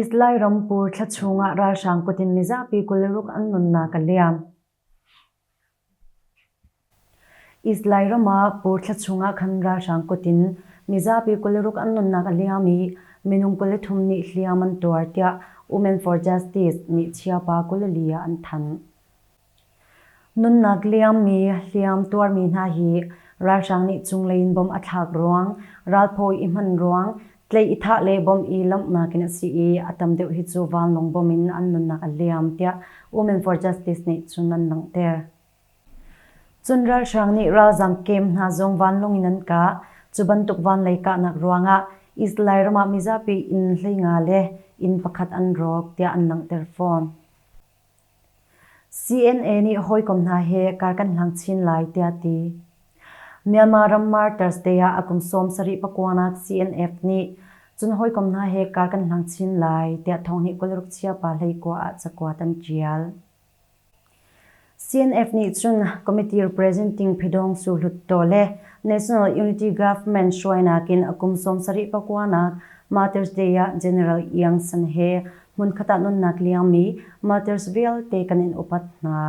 Israel ram pur thla chungah ralhrang kut in mizapi kul ruk an nunnak a liam. Israel ram ah pur thla chungah khan ralhrang kut in mizapi kul ruk an nunnak a liam i minung kul thum nih hliam an tuar tiah Women for Justice nih chiapa kul li ah an thanh. Nunnak liangmi hliam tuarmi hna hi ralhrang nih cunglei in bom a thlak ruang, ralphaw i hman ruang, tlei i thah le bom i lawmhnak in a si i a tam deuh hi cu vanlawng bom in an nunnak a liam tiah Women for Justice nih cun an langhter. Cun ralhrang nih ralzam kem hna zong vanlawng in an kah. Cu bantuk vanlei kahnak ruangah Israel ram ah mizapi inn hleinga le inn pakhat an rawk tiah an langhter fawn. CNA nih hawikom hna he kar kan hlang chin lai tiah a ti. Myanmar ram mar Thursday ah a kum sawm sarih pakuanak CNF nih cun hawikom hna he kar kan hlang chin lai tiah thawng nih kul ruk chia pa hleikua ah cakuat an ṭial. CNF nih cun committee representing Phedong Su Hluttaw le National Unity Government hruainak in a kum sawm sarih pakuanak Ma Thursday ah General Iang San he hmunkhat ah nunnak liangmi Martyrsville te kan in upat hna.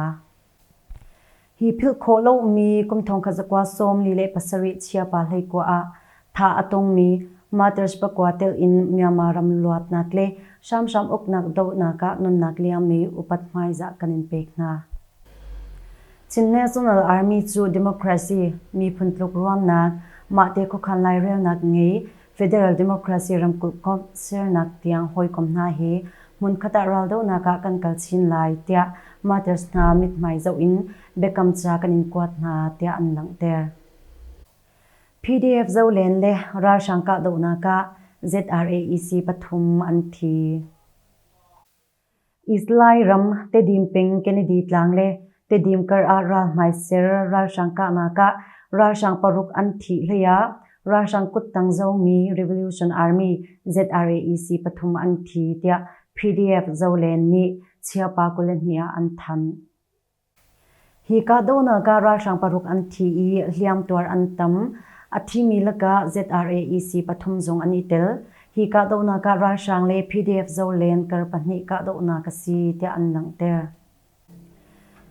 Hi philh khawh lomi kum thongkhat zakua sawm li le pasarih chiapa hleikua ah tha a tungmi Martyrs pakua telh in Myanmar ram luatnak le hramhram uknak dohnak ah nunnak liangmi upat hmaizah kan in pek hna. Chin National Army cu democracy, miphun tluk ruamnak, mahte khuakhan lairelnak ngei, Federal Democracy ramkulh komh sernak tiang hawikom hna hi hmunkhat ah raldohnak ah kan kal chin lai tiah Martyrs hna mithmai zoh in biakam ca kan in kuat hna tiah an langhter. PDF Zolen le ralhrang kahdohnak ah ZRAEC pathum an thi. Israel ram Tedim peng Kennedy tlang le Tedim kar ah ralhmai ser ralhrang kahnak ah ralhrang paruk an thih hlei ah ralhrang kuttang zomi Revolution Army ZRAEC pathum an thi tiah PDF zolen nih Chiappa kuli hnih ah an thanh. Hi kahdohnak ah ralhrang paruk an thi i hliamtuar an tam. A thimi lakah ZRAEC pathum zong an i tel. Hi kahdohnak ah ralhrang le PDF zolen kar pahnih kahdohnak a si tiah an langhter.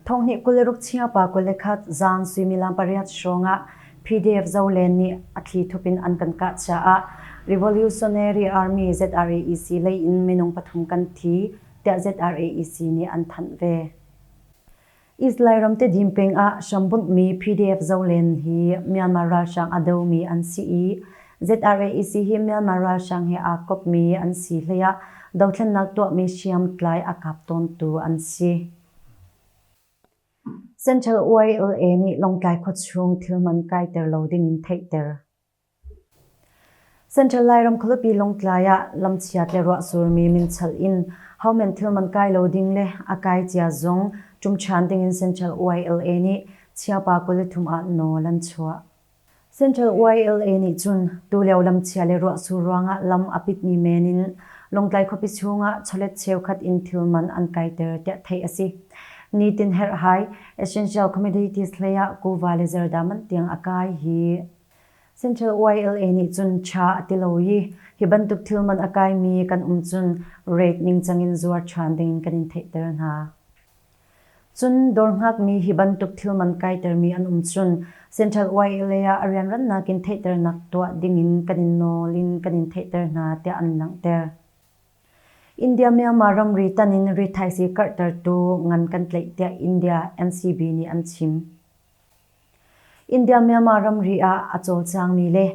Thonghnih kul le ruk Chingpa kul le khat zaan suimilam pariat hrawngah PDF zolen nih a thli thup in an kan kah caah Revolutionary Army ZRAEC lei in minung pathum kan thi, tiah ZRAEC nih an thanh ve. Israel ram tedim pengah hrambunhmi PDF zolen hi Myanmar ralhrang a domi an si i ZRAC hi Myanmar ralhrang he aa kopmi an si hleiah dothlennak tuahmi hriamtlai a kap tawntu an si. Central OILA nih Lawngtlai khuachung thil man kaiter lo dingin theihter. Central Lairam khualipi Lawngtlai ah lamchiat le ruahsurmi minchal in homan thilman kai lo ding le a kai cia zong ṭum ṭhan dingin Central YLA nih Chiapa kuli thum ah nawl an chuah. Central YLA nih cun tulio lamchia le ruahsur ruangah lam a pitmi men in Lawngtlai khuapi chungah chawlet cheukhat in thilman an kaiter tiah theih a si. Nitin herhhai Essential Communities hlei ah kuva le zerdaman tiang a kai hi Central YLA nih cun tha a ti lo i hi bantuk thil man a kaimi kan um cun rate ningcang in zuar than ding kan in theihter hna. Cun dawr hngakmi hi bantuk thil man kaitermi an um cun Central YLA ah a rianrannak in theihternak tuah ding in kan in nawl in kan in theihter hna tiah an langhter. India Myanmar ramri tan in ri thaisii karhtertu ngan kan tleih tiah India NCB nih an chim. India-Myanmar ramri ah a cawlcangmi le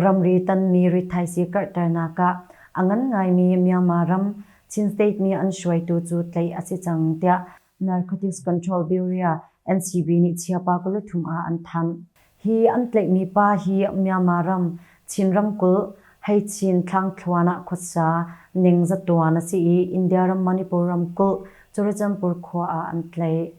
ramri tanmi rithaisii karhternak ah a ngan ngaimi Myanmar ram Chin State mi an hruaitu cu tlaih a si cang, tiah Narcotics Control Bureau, NCB, nih Chiapa kul thum ah an thanh. Hi an tlaihmi pa hi Myanmar ram Chin ramkulh, Hei-Chin thlangthluan ah khuasa ningzatuan a si i India ram Manipur ramkulh, Curachanpur khua ah an tlaih.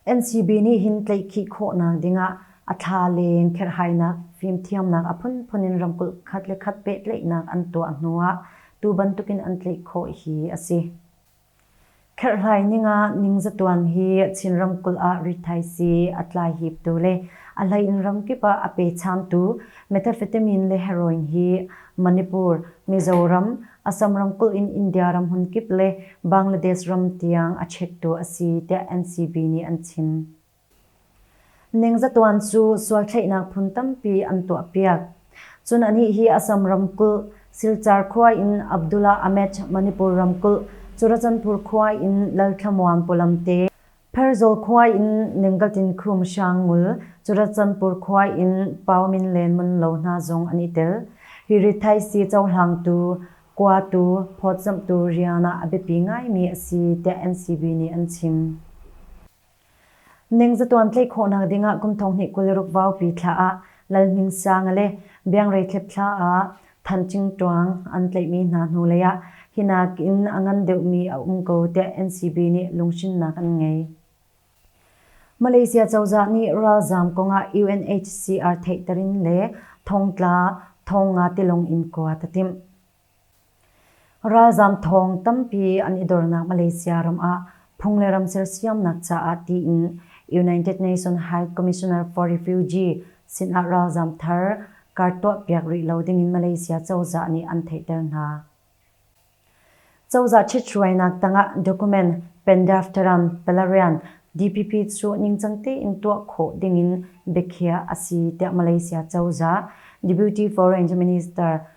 NCB nih hin tlaihkhih khawhnak dingah a thla leng kherhhainak fimthiamnak a phunphun in ramkulh khat le khat pehtlaihnak an tuah hnuah tu bantukin an tlaih khawh hi a si. Kherhlai ningah ningzatuan hi Chin ramkulh ah rithaisii a tlai hiptu le a hleiin ramkip ah a pechamtu methamphetamine le heroin hi Manipur, Mizoram, Assam ramkulh in India ramhun kip le Bangladesh ram tiang a chektu a si tiah NCB nih an chim. Ningzatuan cu sualthlaihnak phun tampi an tuahpiak. Cun anih hi Assam ramkulh, Silchar khua in Abdullah Ahmed, Manipur ramkulh, Churachandpur khua in Lalthlamuan pawlamte, Pherzawl khua in Ninggatin Khum Hrang ngul Curaccanpur khua in Pau Min Len Mun Lo hna zong an i tel. Hi rithaisi cohlangtu, kuatu, phawtzamhtu rian ah a biapi ngaimi a si, tiah NCB nih an chim. Ningzatuan tlaih khawhnak ding ah kum thonghnih kul i ruk vaupi thla ah Lal Hmin Sang le Biangrei Thlep thla ah Thanchingṭuang an tlaihmi hna hnulei ah hi nakin a ngan deuhmi a um ko tiah NCB nih lunghrinnak an ngei. Malaysia cozah nih ralzaam kongah UNHCR theihter in le thongtla thong nga tilawng in kuat a timh. Ralzaam thawng tampi an i dornak Malaysia ram ah phung le ram sersiamnak caah tiin United Nations High Commissioner for Refugee sinah ralzaam thar kar tuahpiak rih lo dingin Malaysia cozah nih an theihter hna. Cozah ṭhithruainak tangah document pendaftaram Pelarian DPP cu ningcang tein tuah khawh dingin biakhiah a si tiah Malaysia cozah Deputy Foreign Minister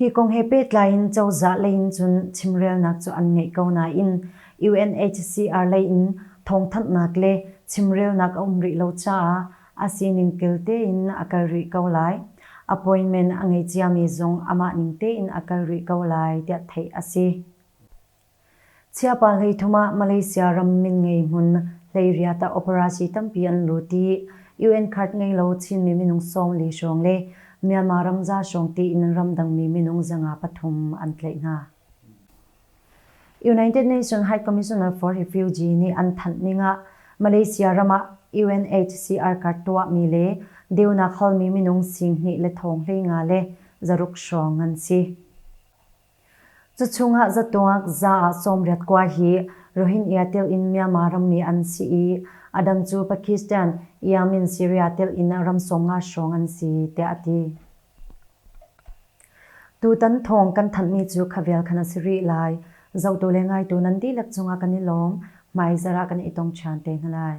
Hi kong he pehtlai in cozah lei in cun chimrelnak cu an ngei ko nain UNHCR lei in thawngthanhnak le chimrelnak a um rih lo caah a sining kel tein a kal rih ko lai. Appointment a ngei ciami zong amah ning tein a kal rih ko lai tiah theih a si. Chiapa hleithum ah Malaysia ram min ngei hmun hleiriat ah operasi tampi an lut i UN card ngei lo Chinmi minung sawmli hrawng le Myanmar ram za hrawng tiin an ramdangmi minung zanga pathum an tlaih hna. United Nations High Commissioner for Refugee nih an thanh ning ah Malaysia ram ah UNHCR card tuahmi le deunak halmi minung sing hnih le thong hlei nga le zaruk hrawng an si. Cuchung ah zatuak za sawmriat kua hi Rohingya tilh in Myanmar rammi an si i a dang cu Pakistan, Yemen, Syria tilh in ram sawmnga hrawng an si tiah a ti. Tutan thawng kan thanhmi cu khavial khan a si rih lai. Zohtu le ngaitu nan dihlak cungah kan i lawm. Hmai zarah kan i tong ṭhan te hna lai.